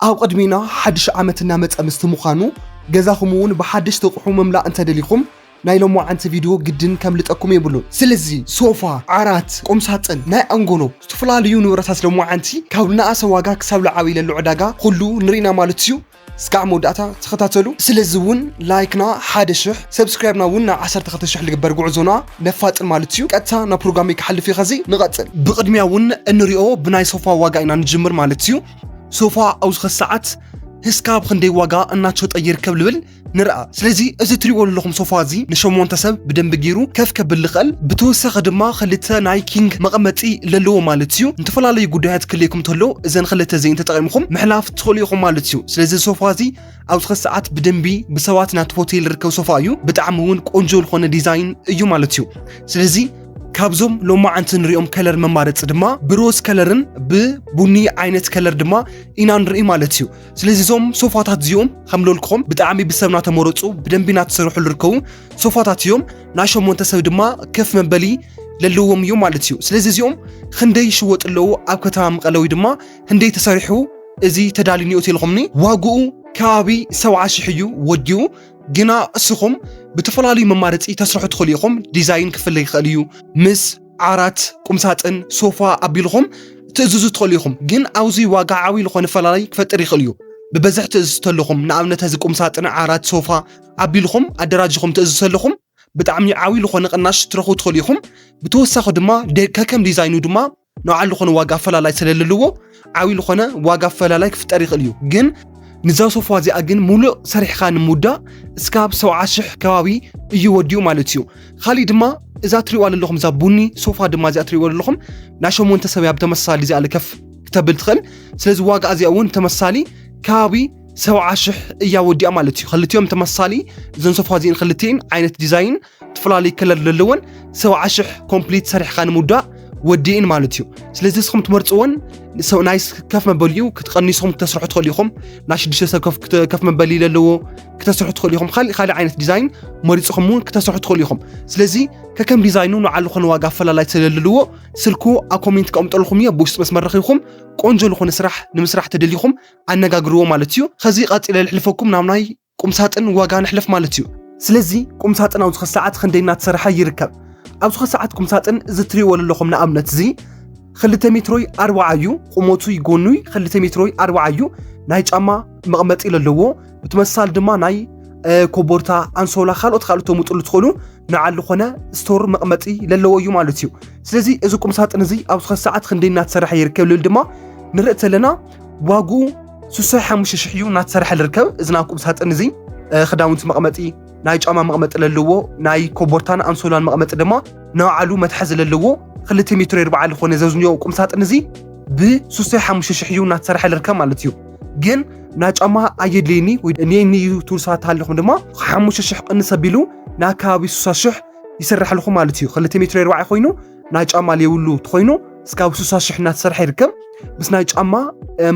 ኣብ ቕድሚና ሓድሽ ዓመት እናመጸ ምስቲ ምዃኑ ገዛኹም እውን ብሓደሽቲ ኣቕሑ ምምላእ እንተደሊኹም ናይ ሎማዓንቲ ቪድዮ ግድን ከምልጠኩም የብሉን። ስለዚ ሶፋ፣ ዓራት፣ ቁምሳጥን፣ ናይ ኣንጎሎ ዝተፈላለዩ ንብረታት ሎማዓንቲ ካብ ልነኣሰ ዋጋ ክሳብ ልዓበይ ለሎ ዕዳጋ ኹሉ ንሪኢና ማለት እዩ እስካዕ መወዳእታ ተኸታተሉ። ስለዚ እውን ላይክና ሓደ ሽሕ ሰብስክራይብና እውን ናብ ዓሰርተ ክልተ ሽሕ ልግበር ጉዕዞና ነፋጥን ማለት እዩ። ቀጥታ ናብ ፕሮግራመይ ክሓልፍ እየ ኸዚ ንቐጽል። ብቕድሚያ እውን እንሪኦ ብናይ ሶፋ ዋጋ ኢና ንጅምር ማለት እዩ። ሶፋ ኣብዚ ኸዚ ሰዓት ህስካብ ክንደይ ዋጋ እናተሸጠ ይርከብ ልብል ንርኣ ስለዚ እዚ ትሪእዎ ዘለኹም ሶፋ እዚ ንሸሞንተ ሰብ ብደንቢ ገይሩ ከፍ ከብል ልኽእል ብተወሳኺ ድማ ክልተ ናይ ኪንግ መቐመጢ ለለዎ ማለት እዩ ንተፈላለዩ ጉዳያት ክልየኩም ተሎ እዘን ክልተ እዚን ተጠቂምኹም ምሕላፍ ትኽእሉ ኢኹም ማለት እዩ ስለዚ ሶፋ እዚ ኣብዚ ኸዚ ሰዓት ብደንቢ ብሰባት ናቲ ሆቴል ርከብ ሶፋ እዩ ብጣዕሚ እውን ቆንጆ ዝኾነ ዲዛይን እዩ ማለት እዩ ስለዚ ካብዞም ሎማዓንቲ ንሪኦም ከለር መማረፂ ድማ ብሮዝ ከለርን ብቡኒ ዓይነት ከለር ድማ ኢና ንርኢ ማለት እዩ ስለዚ እዞም ሶፋታት እዚኦም ከም ሎልክኹም ብጣዕሚ ብሰብ ናተመረፁ ብደንቢ ናተሰርሑ ዝርከቡ ሶፋታት እዮም ናይ ሸሞንተ ሰብ ድማ ከፍ መበሊ ለለዎም እዮም ማለት እዩ ስለዚ እዚኦም ክንደይ ይሽወጡ ኣለዉ ኣብ ከተማ መቐለ ወይ ድማ ህንደይ ተሰሪሑ እዚ ተዳልዩ ኒኦ ተልኹምኒ ዋግኡ ከባቢ ሰብዓ ሽሕ እዩ ወዲኡ ግና እስኹም ብተፈላለዩ መማረፂ ተስርሑ ትኽእሉ ኢኹም። ዲዛይን ክፍለ ይኽእል እዩ። ምስ ዓራት፣ ቁምሳጥን፣ ሶፋ ኣቢልኹም ትእዝዙ ትኽእሉ ኢኹም። ግን ኣብዚ ዋጋ ዓብይ ዝኾነ ፈላላይ ክፈጥር ይኽእል እዩ። ብበዝሒ ትእዝዙ ተለኹም ንኣብነት እዚ ቁምሳጥን፣ ዓራት፣ ሶፋ ኣቢልኹም ኣደራጅኹም ትእዝዙ ተለኹም ብጣዕሚ ዓብይ ዝኾነ ቅናሽ ትረኽቡ ትኽእሉ ኢኹም። ብተወሳኺ ድማ ከከም ዲዛይኑ ድማ ንባዕሉ ልኾነ ዋጋ ኣፈላላይ ስለልልዎ ዓብይ ልኾነ ዋጋ ኣፈላላይ ክፍጠር ይኽእል እዩ ግን ንዛ ሶፋ እዚኣ ግን ሙሉእ ሰሪሕኻ ንምውዳእ እስካብ ሰብዓ ሽሕ ከባቢ እዩ ወዲኡ ማለት እዩ ካሊእ ድማ እዛ ትሪእዋ ዘለኹም እዛ ቡኒ ሶፋ ድማ እዚኣ ትሪእዋ ዘለኹም ናይ ሸሞንተ ሰብ እያ ብተመሳሳሊ እዚኣ ልከፍ ክተብል ትኽእል ስለዚ ዋጋ እዚኣ እውን ብተመሳሳሊ ከባቢ ሰብዓ ሽሕ እያ ወዲኣ ማለት እዩ ክልቲኦም ተመሳሳሊ እዘን ሶፋ እዚእን ክልቲኤን ዓይነት ዲዛይን ትፈላለዩ ከለር ዘለወን ሰብዓ ሽሕ ኮምፕሊት ሰሪሕካ ንምውዳእ ወዲእን ማለት እዩ ስለዚ እስኹም ትመርፅዎን ናይ ከፍ መበሊ እዩ ክትቀኒስኹም ክተስርሑ ትኽእሉ ኢኹም ናይ ሽዱሽተ ሰብ ከፍ መበሊ ዘለዎ ክተስርሑ ትኽእሉ ኢኹም ካልእ ካልእ ዓይነት ዲዛይን መሪፅኹም እውን ክተስርሑ ትኽእሉ ኢኹም ስለዚ ከከም ዲዛይኑ ንዓሉ ኾነ ዋጋ ኣፈላላይ ስለለልዎ ስልኩ ኣብ ኮሜንት ከቕምጠልኹም እዮ ብውሽጢ መስመር ረኺብኩም ቆንጆ ዝኾነ ስራሕ ንምስራሕ ተደሊኹም ኣነጋግርዎ ማለት እዩ ከዚ ቀፂለ ልሕልፈኩም ናብ ናይ ቁምሳጥን ዋጋ ንሕለፍ ማለት እዩ። ስለዚ ቁምሳጥን ኣብ ዝኸ ሰዓት ኽንደይ እናተሰረሐ ይርከብ? ኣብ ዝኸ ሰዓት ቁምሳጥን እዚ ትሪእዎ ለለኹም ንኣብነት እዚ ኽልተ ሜትሮይ ኣርብዓ እዩ ቑመቱይ ጎኑይ ኽልተ ሜትሮይ ኣርብዓ እዩ ናይ ጫማ መቕመጢ ለለዎ ብትመሳሳሊ ድማ ናይ ኮቦርታ ኣንሶላ ካልኦት ካልኦት ተሙጥሉ ትኽእሉ ንዓል ዝኾነ ስቶር መቕመጢ ለለዎ እዩ ማለት እዩ። ስለዚ እዚ ቁምሳጥን እዚ ኣብ ዝኸ ሰዓት ኽንደይ እናተሰረሐ ይርከብ ልብል ድማ ንርኢ ተለና ዋግኡ ስሳ ሓሙሽተ ሽሕ እዩ እናተሰርሐ ዝርከብ እዚ ናብ ቁም ሳጥን እዚ ክዳውንቲ መቕመጢ ናይ ጫማ መቕመጢ ዘለዎ ናይ ኮቦርታን ኣንሶላን መቕመጢ ድማ ንባዕሉ መትሓዚ ዘለዎ ክልተ ሜትሮ ይርባዓ ዝኾነ ዘዝንዮ ቁም ሳጥን እዚ ብስሳ ሓሙሽተ ሽሕ እዩ እናተሰርሐ ዝርከብ ማለት እዩ ግን ናይ ጫማ ኣየድልየኒ ወይ እኔኒ እዩ ትብል ሰባት ሃለኹም ድማ ሓሙሽተ ሽሕ ቅንስ ኣቢሉ ናብ ከባቢ ስሳ ሽሕ ይስርሐልኹም ማለት እዩ ክልተ ሜትሮ ይርባዓ ኮይኑ ናይ ጫማ ለይብሉ ተኾይኑ ስካብ ሱሳ ሽሕ እናተሰርሐ ይርከብ ምስ ናይ ጫማ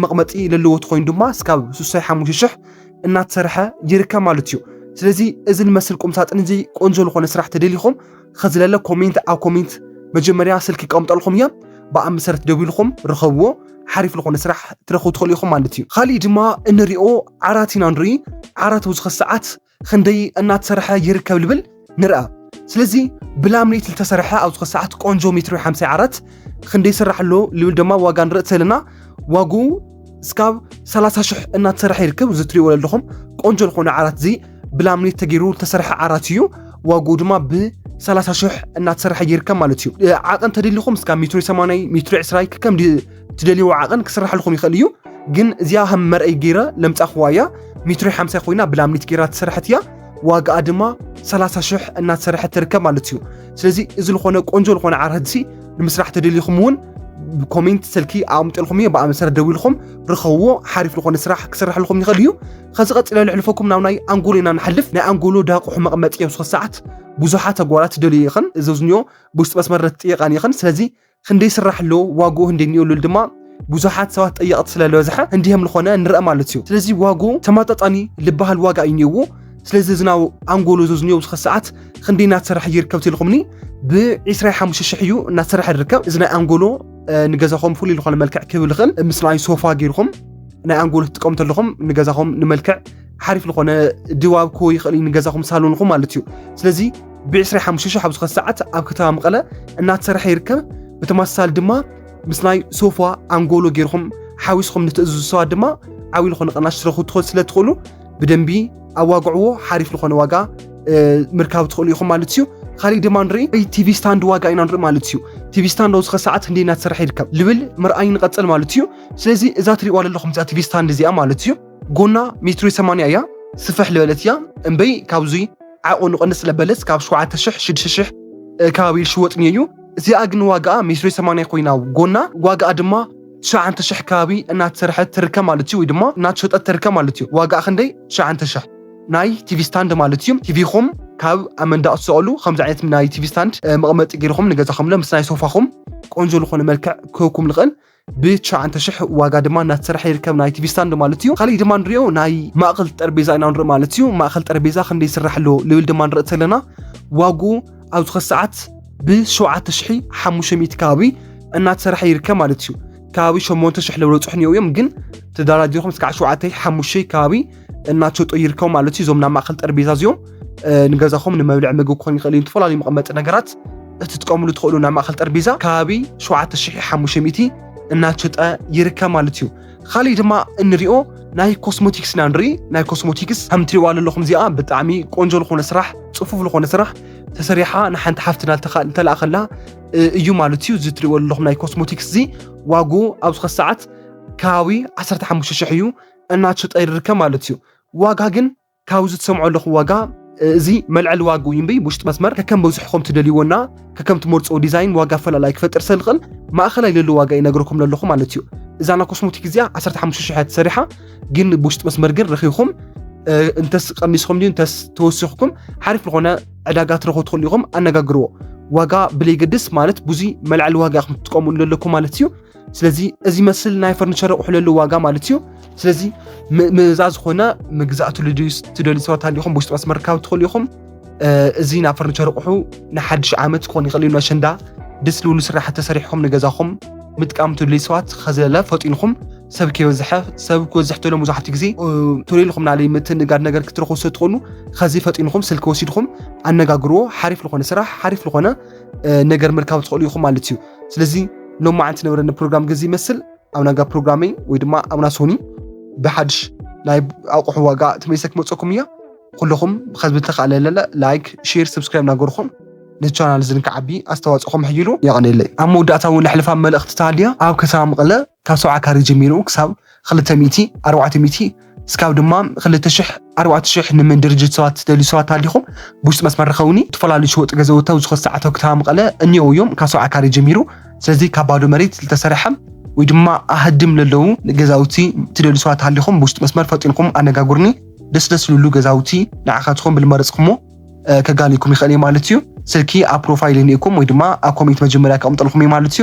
መቕመጢ ለለዎ ተኾይኑ ድማ ስካብ ሱሳይ ሓሙሽተ ሽሕ እናተሰርሐ ይርከብ ማለት እዩ ስለዚ እዚ ንመስል ቁምሳጥን እዚ ቆንጆ ዝኾነ ስራሕ ተደሊኹም ከዝለለ ኮሜንት ኣብ ኮሜንት መጀመርያ ስልኪ ቀምጠልኹም እያ ብኣ መሰረት ደዊልኹም ርኸብዎ ሓሪፍ ዝኾነ ስራሕ ትረኽቡ ትኽእሉ ኢኹም ማለት እዩ ካሊእ ድማ እንሪኦ ዓራት ኢና ንርኢ ዓራት ብዙ ሰዓት ኽንደይ እናተሰርሐ ይርከብ ልብል ንርኣ ስለዚ ብላምኔት ልተሰርሐ ኣብ ዝኾ ሰዓት ቆንጆ ሜትሮ ሓምሳይ ዓራት ኽንደይ ይስራሕ ኣሎ ልብል ደማ ዋጋ ንርእ ተለና ዋጉ እስካብ ሰላሳ ሽሕ እናተሰርሐ ይርከብ እዚ ትሪእዎ ኣለኹም ቆንጆ ዝኾነ ዓራት እዚ ብላምኔት ተገይሩ ልተሰርሐ ዓራት እዩ ዋጉ ድማ ብ ሰላሳ ሽሕ እናተሰርሐ ይርከብ ማለት እዩ ዓቐን ተደሊኹም እስካ ሜትሮ ሰማናይ ሜትሮ ዕስራይ ከከም ትደልይዎ ዓቐን ክስራሕልኹም ይኽእል እዩ ግን እዚኣ ከም መርኣይ ገይረ ለምፃኹዋ እያ ሜትሮ ሓምሳ ኮይና ብላምኒት ገይራ ትሰርሐት እያ ዋጋኣ ድማ 30 ሽሕ እናተሰርሐት ትርከብ ማለት እዩ ስለዚ እዚ ዝኾነ ቆንጆ ዝኾነ ዓራትሲ ንምስራሕ ተደሊኹም እውን ብኮሜንት ስልኪ ኣቕምጥልኩም እየ ብኣ መሰረት ደዊልኩም ርኸብዎ ሓሪፍ ዝኾነ ስራሕ ክስራሕልኩም ይኽእል እዩ ከዚ ቀፂለ ልሕልፈኩም ናብ ናይ ኣንጎሎ ኢና ንሓልፍ ናይ ኣንጎሎ ዳቁሑ መቕመጢ እዮም ሶስት ሰዓት ብዙሓት ተጓራት ደልዩ ይኽን እዘዝንዮ ብውሽጢ መስመር ትጥየቃን ይኽን ስለዚ ህንዲ ይስራሕሉ ዋግኡ ህንዲ ንኡሉል ድማ ብዙሓት ሰባት ጠየቕቲ ስለ ዝበዝሐ ህንዲ ከም ዝኾነ ንርአ ማለት እዩ ስለዚ ዋግኡ ተማጣጣኒ ልበሃል ዋጋ እዩ ኒኡዎ ስለዚ ዝናው ኣንጎሎ ዘዝኒዮ ኣብዚ ሰዓት ክንዲ እናተሰርሐ ይርከብ ትልኹምኒ ብ25 ሽሕ እዩ እናተሰርሐ ዝርከብ እዚ ናይ ኣንጎሎ ንገዛኹም ፍሉይ ዝኾነ መልክዕ ክህብ ዝኽእል ምስ ናይ ሶፋ ገይርኹም ናይ ኣንጎሎ ትጥቀሙ ተለኹም ንገዛኹም ንመልክዕ ሓሪፍ ዝኾነ ድባብ ክህቦ ይኽእል እዩ ንገዛኹም ሳሎንኹም ማለት እዩ ስለዚ ብ25 ሽሕ ኣብ ዝኾነ ሰዓት ኣብ ከተማ መቐለ እናተሰርሐ ይርከብ ብተመሳሳሊ ድማ ምስ ናይ ሶፋ ኣንጎሎ ገይርኹም ሓዊስኹም ንትእዝዙ ሰባት ድማ ዓብዪ ዝኾነ ቅናሽ ትረኽቡ ትኽእል ስለ ትኽእሉ ብደንቢ ኣዋግዕዎ ሓሪፍ ዝኾነ ዋጋ እ፣ ምርካብ ትኽእሉ ኢኹም ማለት እዩ ካሊእ ድማ ንርኢ ወይ ቲቪ ስታንድ ዋጋ ኢና ንርኢ ማለት እዩ ቲቪ ስታንድ ኣብዚ ኸ ሰዓት ክንደይ እናተሰርሐ ይርከብ ልብል ምርኣይ ንቐፅል ማለት እዩ ስለዚ እዛ ትሪእዋ ዘለኹም እዛ ቲቪ ስታንድ እዚኣ ማለት እዩ ጎና ሜትሪ ሰማንያ እያ ስፍሕ ልበለት እያ እምበይ ካብዙይ ዓቑ ንቐንስ ስለበለት ካብ ሸውዓተ ሽሕ ሽዱሽተ ሽሕ ከባቢ ይሽወጥ እኒኦ እዩ እዚኣ ግን ዋጋኣ ሜትሪ ሰማንያ ኮይና ጎና ዋጋኣ ድማ ትሽዓተ ሽሕ ከባቢ እናተሰርሐት ትርከብ ማለት እዩ ወይ ድማ እናተሸጠት ትርከብ ማለት እዩ ዋጋኣ ክንደይ ትሽዓተ ሽሕ ናይ ቲቪ ስታንድ ማለት እዩ ቲቪኹም ካብ ኣብ መንዳቕ ትሰቐሉ ከምዚ ዓይነት ናይ ቲቪ ስታንድ መቐመጢ ገይርኹም ንገዛኹም ለ ምስ ናይ ሶፋኹም ቆንጆ ዝኾነ መልክዕ ክህብኩም ንኽእል ብትሽዓንተ ሽሕ ዋጋ ድማ እናተሰርሐ ይርከብ ናይ ቲቪ ስታንድ ማለት እዩ ካሊእ ድማ ንሪኦ ናይ ማእኸል ጠረጴዛ ኢና ንርኢ ማለት እዩ ማእኸል ጠረጴዛ ክንደይ ይስራሕ ኣሎ ልብል ድማ ንርኢ ተለና ዋግኡ ኣብ ዝኸ ሰዓት ብሸውዓተ ሽሒ ሓሙሽተ ሚእቲ ከባቢ እናተሰርሐ ይርከብ ማለት እዩ ከባቢ ሸሞንተ ሽሕ ለበለፅሑ እኒኦ እዮም ግን ተደራዲርኩም እስካዕ ሸውዓተ ሓሙሽተ ከባቢ እናቸጦ ይርከቡ ማለት እዩ። እዞም ናብ ማእኸል ጠረጴዛ እዚኦም ንገዛኹም ንመብልዕ ምግቢ ክኾን ይኽእል እዩ። ዝተፈላለዩ መቐመጢ ነገራት እትጥቀምሉ ትኽእሉ ናብ ማእኸል ጠረጴዛ ከባቢ 7500 እናቸጠ ይርከብ ማለት እዩ። ካሊእ ድማ እንሪኦ ናይ ኮስሞቲክስ ኢና ንርኢ። ናይ ኮስሞቲክስ ከም ትሪእዋ ዘለኹም እዚኣ ብጣዕሚ ቆንጆ ዝኾነ ስራሕ ፅፉፍ ዝኾነ ስራሕ ተሰሪሓ ንሓንቲ ሓፍትና ተላእኸላ እዩ ማለት እዩ። እዚ ትሪእዎ ዘለኹም ናይ ኮስሞቲክስ እዚ ዋግኡ ኣብ ዝኸ ሰዓት ከባቢ 15 ሽሕ እዩ። እናቸጠይርርከ ማለት እዩ ዋጋ ግን ካብዚ ትሰምዖ ኣለኹ ዋጋ እዚ መልዐሊ ዋጋ እዩ እምበይ ውሽጢ መስመር ከከም በዝሕኹም ትደልይዎና ከከም ትመርፅዎ ዲዛይን ዋጋ ፈላላይ ክፈጥር ሰልኽእል ማእኸላይ ለሎ ዋጋ ይነግረኩም ለለኹ ማለት እዩ እዛና ኮስሞቲክ እዚኣ 15 ሽሕ ተሰሪሓ ግን ብውሽጢ መስመር ግን ረኺኹም እንተስ ቀኒስኹም ድዩ እንተስ ተወሲኽኩም ሓሪፍ ዝኾነ ዕዳጋ ትረኹ ትኽእሉ ኢኹም ኣነጋግርዎ ዋጋ ብለይገድስ ማለት ብዙ መልዓሊ ዋጋ ኢኹም ትጥቀሙ ለለኩ ማለት እዩ ስለዚ እዚ መስል ናይ ፈርኒቸር ኣቑሑ ለሉ ዋጋ ማለት እዩ ስለዚ ምእዛ ዝኾነ ምግዛእቱ ልድዩስ ትደልዩ ሰባት ሃሊኹም ብውሽጢ መስመር ርካብ ትኽእሉ ኢኹም እዚ ናይ ፈርኒቸር ኣቑሑ ንሓድሽ ዓመት ክኾን ይኽእል እዩ ነሸንዳ ደስ ልብሉ ስራሕ ተሰሪሕኩም ንገዛኹም ምጥቃም ትድልዩ ሰባት ከዘለ ፈጢንኹም ሰብ ከይበዝሐ ሰብ ክበዝሕ ተሎ መብዛሕትኡ ግዜ ቶሎ ኢልኩም ናለይ ምትንጋድ ነገር ክትረኽቡ ስለትኾኑ ከዚ ፈጢንኹም ስልኪ ወሲድኩም ኣነጋግርዎ ሓሪፍ ዝኾነ ስራሕ ሓሪፍ ዝኾነ ነገር ምርካብ ትኽእሉ ኢኹም ማለት እዩ ስለዚ ሎም መዓንቲ ነበረኒ ፕሮግራም ገዚ ይመስል ኣብ ናጋ ፕሮግራመይ ወይ ድማ ኣብና ሶኒ ብሓድሽ ናይ ኣቑሑ ዋጋ ተመሊሰ ክመፀኩም እያ ኩልኹም ብከዚ ብተካእለለለ ላይክ ሼር ሰብስክራይብ ናገርኹም ንቻናል እዚ ንክዓቢ ኣስተዋፅኦኹም ሕይሉ የቐኔለይ ኣብ መወዳእታ እውን ለሕልፋ መልእኽቲ ተሃልያ ኣብ ከተማ መቐለ ካብ ሰብዓ ካሬ ጀሚሩ ክሳብ ክልተ ሚእቲ ኣርባዕተ ሚእቲ እስካብ ድማ ክልተ ሽሕ ኣርባዕተ ሽሕ ንምን ድርጅት ሰባት ትደልዩ ሰባት ኣሊኹም ብውሽጢ መስመር ርኸውኒ ዝተፈላለዩ ሸወጡ ገዘውቲ ኣብ ዝኾነ ሰዓት ኣብ ከተማ መቐለ እኒኦ እዮም ካብ ሰብዓ ካሬ ጀሚሩ ስለዚ ካብ ባዶ መሬት ዝተሰርሐ ወይ ድማ ኣህድም ለለዉ ገዛውቲ ትደልዩ ሰባት ሃሊኹም ብውሽጢ መስመር ፈጢንኩም ኣነጋጉርኒ ደስ ደስ ልሉ ገዛውቲ ንዓኻትኹም ብልመረፅኩሞ ከጋሊኩም ይኽእል እየ ማለት እዩ ስልኪ ኣብ ፕሮፋይል እኒኤኩም ወይ ድማ ኣብ ኮሜንት መጀመርያ ከቕምጠልኩም እየ ማለት እዩ